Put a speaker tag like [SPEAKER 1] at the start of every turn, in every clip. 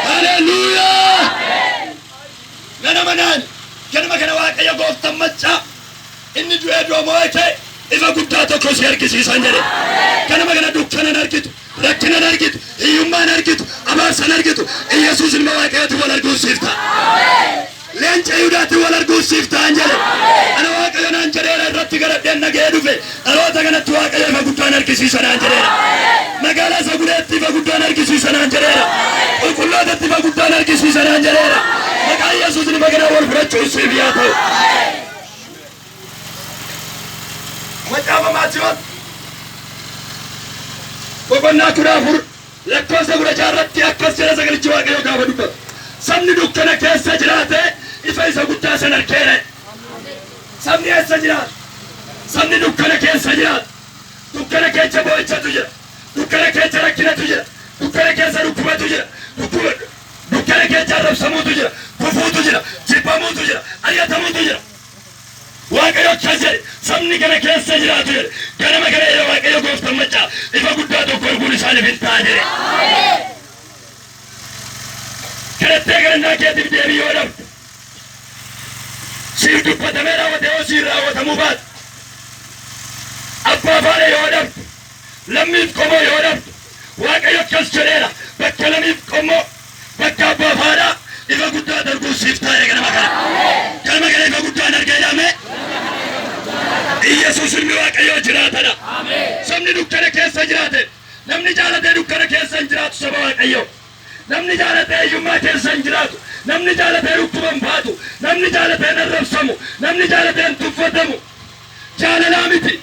[SPEAKER 1] Haleluuyaa! Nana manaan ganama kana waaqayyo gooftan maccaa inni du'ee du'a moo'ee kee ifa guddaa tokko si argisiisan jedhe. Ganama kana dukkanan argitu, rakkinan argitu, hiyyummaan argitu, abaarsan argitu, Iyyasuus ilma waaqayyooti wal arguun siif ta'a. Leenca Yihuudaatiin wal arguuf siif ta'an jedhe. Ana Waaqayyo naan jedheera irratti garadheen dhaga'ee dhufe. Dhaloota kanatti Waaqayyo ifa guddaan argisiisa naan jedheera. Magaalaa isa gudeetti ifa guddaan argisiisa naan jedheera. Qulqullootatti ifa guddaan argisiisa naan jedheera. Maqaa Yesuusin ifa kanaan wal fudhachuun siif yaa ta'u. Macaafa Maatiyoos boqonnaa kudha afur Lakkoofsa 16 irratti akkas jedha Sagalichi Waaqayyoo gaafa dubbatu, Sabni dukkana keessa jiraate ifa isa guddaa san argeera jedhe. Sabni eessa jiraata? Sabni dukkana keessa jiraata. Dukkana keessa boo'ichatu jira. Dukkana keessa rakkinatu jira. Dukkana keessa dhukkubatu jira. Dhukkuba, dukkana keessa arrabsamuutu jira. Gufuutu jira. Jibbamuutu jira. Ari'atamuutu jira. Waaqayyo akkas jedhe, Sabni kana keessa jiraatu jedhe, ganama kana ija Waaqayyo gooftan macca ifa guddaa tokko arguun isaaniif in ta'a jedhe. Kadhattee kadhannaa keetiif deebii yoo dhabde, siif dubbatamee raawwate yoo siif raawwatamuu baate, abbaa faana yoo dhabde, Lammiif qomoo yoo dhabdu Waaqayyo akkas jedheera bakka lamiif qommoo bakka abbaaf haadhaa ifa guddaa darbuun siif taa'e ganama kana. Ganama kana ifa guddaa hin argee dhaame. Iyyasuus ilmi Waaqayyoo jiraatadha. Sabni dukkana keessa jiraate namni jaalatee dukkana keessa hin jiraatu saba Waaqayyoo. Namni jaalatee hiyyummaa keessa hin jiraatu. Namni jaalatee dhukkuba hin baatu. Namni jaalatee hin arrabsamu. Namni jaalatee hin tuffatamu. Jaalalaa miti.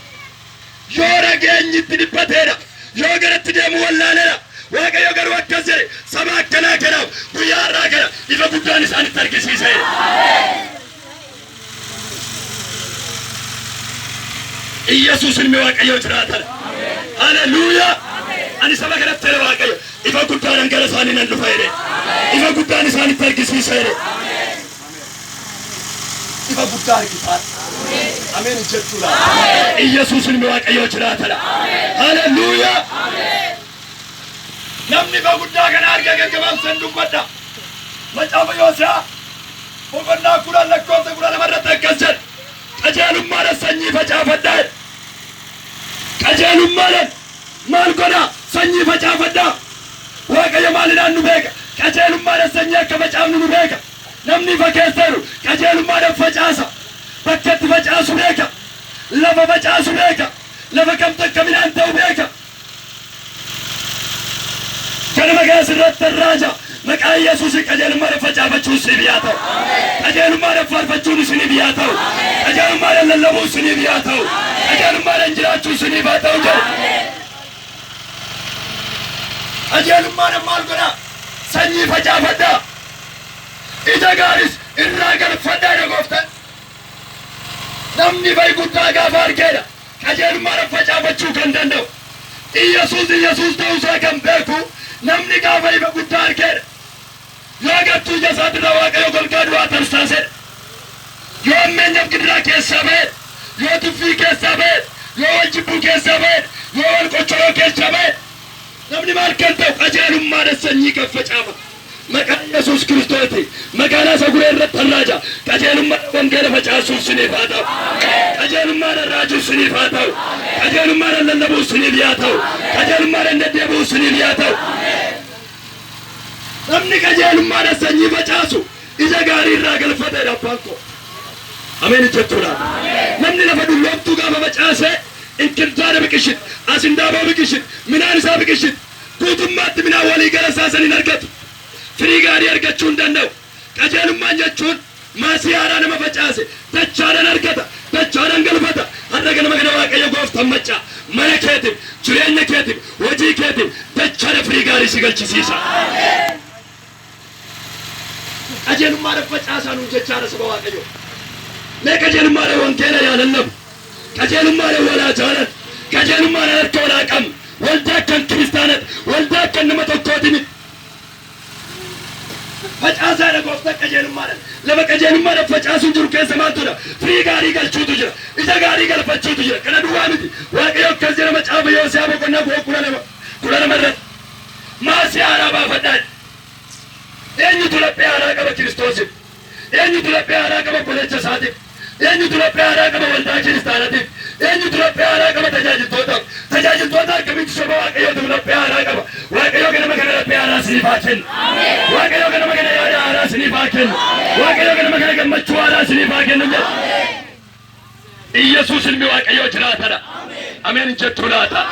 [SPEAKER 1] Yoo nageenyi itti dhiphateedha. Yoo gara itti deemu wallaaleedha. Waaqayyo garuu akkas jedhe, Saba akkanaa kanaaf guyyaa har'aa kana ifa guddaan isaanitti argisiiseera. Iyyasuus ilmi Waaqayyoo jiraataadha. Haleluuyaa! Ani saba kanatti jedhe Waaqayyo, ifa guddaadhaan gara isaanii nan dhufa jedhe. Ifa guddaan isaanitti argisiisa jedhe. Ifa guddaa argitaa. Ameen hojjechuudha. Iyyasuus ilmi Waaqayyoo jiraatadha. Haleluuyaa. Namni ifa guddaa kana arge gaggabaabsan dubbadha. Macaafa Yoose'aa boqonnaa kudhan lakkoofsa kudha lama irratti akkas jedha. Qajeelummaadhaan sanyii facaafadhaa jedha. Qajeelummaadhaan maal godhaa? Sanyii facaafadhaa. Waaqayyo maalinaan nu beeka? Qajeelummaadhaan sanyii akka facaafnu nu beeka. Namni ifa keessa jiru qajeelummaadhaan facaasa. Bakka itti facaasu beeka. Lafa facaasu beeka. Lafa kamtu akka midhaan ta'u beeka. Ganama kana sirrattan raaja. Maqaa Yesuusiin qajeelummaadhaan facaafachuun siif yaa ta'u. Qajeelummaadhaan faarfachuun isiniif yaa ta'u. Qajeelummaadhaan lallabuun isiniif yaa ta'u. Qajeelummaadhaan jiraachuun isiniif haa ta'u jedhe. Qajeelummaadhaan maal godhaa? Sanyii facaafadhaa. Ija gaaris irraa galfadhaa dha gooftan. Namni bayi guddaa gaafa argee dha qajeelummaadhan facaafachuu kan danda'u. Iyyasuus Iyyasuus ta'uu isaa kan beeku namni gaafa ifa guddaa argee dha. Yoo gartuu ija isaatirra Waaqayyo golgaa du'aa tarsaasee dha. Yoo hammeenyaf gidiraa keessaa ba'ee dha. Yoo tuffii keessaa ba'ee dha. Yoo wal jibbuu keessaa ba'ee dha. Yoo wal qoccoroo keessaa ba'ee dha. Namni maal kan ta'u qajeelummaadhan sanyii kan facaafatu. Maqaa Yesuus Kiristootiin magaalaa Saguree irratti nan raaja. Qajeelummaadhaan wangeela facaasuun siniif haa ta'u. Qajeelummaadhaan raajuun siniif haa ta'u. Qajeelummaadhaan lallabuun siniif yaa ta'u. Qajeelummaadhaan deddeebi'uun siniif yaa ta'u. Namni qajeelummaadhaan sanyii facaasu ija gaarii irraa galfata jedha abbaan koo. Ameen hin jettuu laata? Namni lafa dulloomtuu gaafa facaase inkirdaada biqilchiti, asindaaboo biqilchiti, midhaan isaa biqilchiti. Guutummaatti midhaan waliigala isaa san hin argatu. Firii gaarii argachuu hin danda'u. Qajeelummaan jechuun maasii haaraa nama facaase dachaadhan argata, dachaadhan galfata. Har'a ganama kana Waaqayyo Gooftaan maccaa mana keetiif, jireenya keetiif, hojii keetiif dachaadha firii gaarii si galchisiisa. Qajeelummaadhan facaasaa nuun jechaara saba Waaqayyoo. Mee qajeelummaadhan wangeela yaa lallabu. Qajeelummaadhan wal haa jaalannu. Qajeelummaadhan harka wal haa qabnu. Waldaa akkan kiristaanati. Waldaa akkan nama tokkooti miti. Facaasaadha gooftan qajeelummaadhan. Lafa qajeelummaadhan facaasuun jiru keessa maaltu jira? Firii gaarii galchuutu jira. Ija gaarii galfachuutu jira. Kana duwwaa miti. Waaqayyo akkas jedha macaafa Yosiyaa boqonnaa kudha lama kudha lama irratti. Maasii haaraa baafadhaa jedhe. Eenyutu laphee haaraa qaba Kiristoosiif? Eenyutu laphee haaraa qaba obboleecha isaatiif? Eenyutu laphee haaraa qaba waldaa kiristaanatiif? Eenyutu laphee haaraa qaba tajaajiltootaaf? Tajaajiltoota akkamiitu saba Waaqayyootiif laphee haaraa qaba? Waaqayyo ganama kana laphee haaraa isiniif haa kennu. Waaqayyo ganama kana yaada haaraa isiniif haa kennu. Waaqayyo ganama kana gammachuu haaraa isiniif haa kennu jedhe. Iyyasuus ilmi Waaqayyoo jiraatadha. Ameen hin jettuu laata?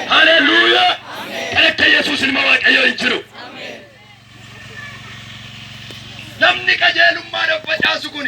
[SPEAKER 1] Haleluuyaa! Kan akka Yesuus ilma Waaqayyoo hin jiru. Namni qajeelummaadhaaf facaasu kun